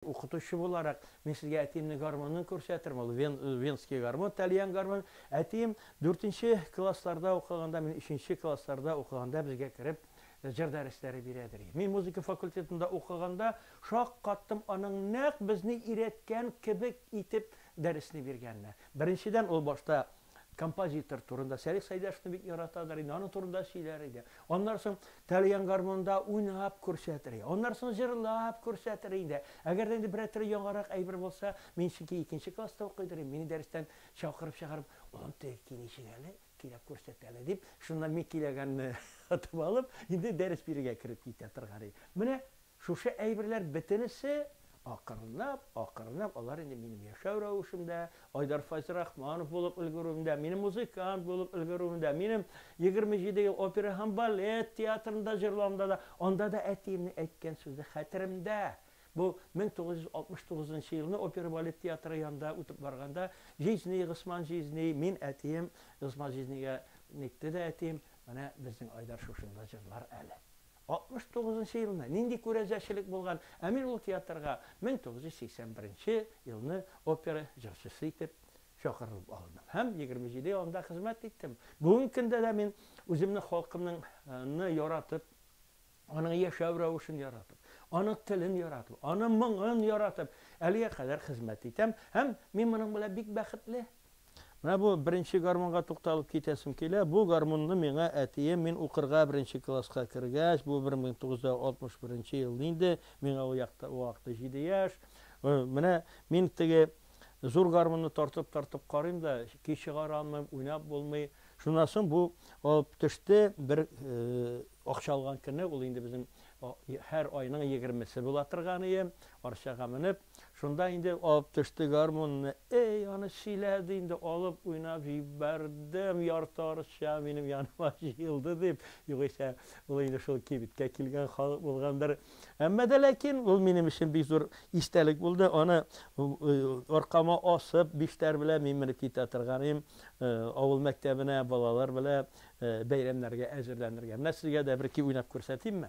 Укытучы буларак, мин сезгә әтиемнең гармунын күрсәтермен. Ул вен, венский гармун, тальян гармун. Әтием дүртенче классларда укыганда, мин өченче классларда укыганда безгә кереп, җыр дәресләре бирә, ди. Мин музыка факультетында укыганда шаккаттым, аның нәкъ безне өйрәткән кебек итеп дәресне биргәненә. Беренчедән, ул башта композитор турында Сәлих Сәйдәшевны бик яратадыр инде, аның турында сөйләр иде. Аннары соң тәлгән гармонда уйнап күрсәтер иде. Аннары соң җырлап күрсәтер иде. Әгәр дә инде берәр төрле яңарак әйбер булса, мин чөнки икенче класста укый идем, мине дәрестән чакырып чыгарып, улым, теге ки ничек әле, көйләп күрсәт әле, дип, шуннан мин көйләгәнне отып алып, инде дәрес бирергә кереп китә торган иде. Менә Шушы әйберләр бетересе, акрынлап, акрынлап алар инде минем яшәү рәвешемдә, Айдар Файзрахманов булып өлгерүемдә, минем музыкант булып өлгерүемдә, минем егерме җиде ел опера һәм балет театрында җырлавымда да, анда да әтиемнең әйткән сүзе хәтеремдә. Бу мең тугыз йөз алтмыш тугызынчы елны опера-балет театры янында үтеп барганда, Җизни, Госман Җизни, мин, әтием, Госман Җизнигә нитте дә әтием, Менә безнең Айдар шушында җырлар әле. 69 нчы елны нинди күрәзәчелек булган, ә мин ул театрга 1980 беренче елны опера җырчысы итеп чакырылып алындым һәм 27 ел анда хезмәт иттем. Бүгенге көндә дә мин үземне халкымның ны яратып, аның яшәү рәвешен яратып, аның телен яратып, аның моңын яратып, әлегә кадәр хезмәт итәм һәм мин моның белән бик бәхетле. Менә бу беренче гармунга тукталып китәсем килә. Бу гармунны миңа әтием, мин укырга беренче класска кергәч, бу 1961 нче ел инде, миңа ул якта, ул вакытта җиде яшь, менә мин теге зур гармунны тартып-тартып карыйм да, көй чыгара алмыйм, уйнап булмый. Шуннан соң бу алып төште, бер акча алган көне, ул инде безнең һәр айның егермесе була торган ием, арчага менеп, Шунда инде алып төште гармунны. Әй, аны сөйлә, ди инде, алып уйнап җибәрдем, ярты арча минем яныма җыелды, дип, югыйсә, ул инде шул кибеткә килгән халык булгандыр. Әмма дә ләкин ул минем өчен бик зур истәлек булды, аны аркама асып, биштәр белән мин менеп китә торганым, авыл мәктәбенә балалар белән бәйрәмнәргә әзерләнергә. Менә сезгә дә берки уйнап күрсәтимме?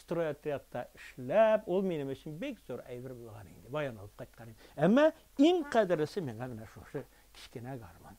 Стройотрядта эшләп, ул минем өчен бик зур әйбер булган инде, баян алып кайткан идем. Әмма иң кадерлесе миңа менә шушы кечкенә гармун.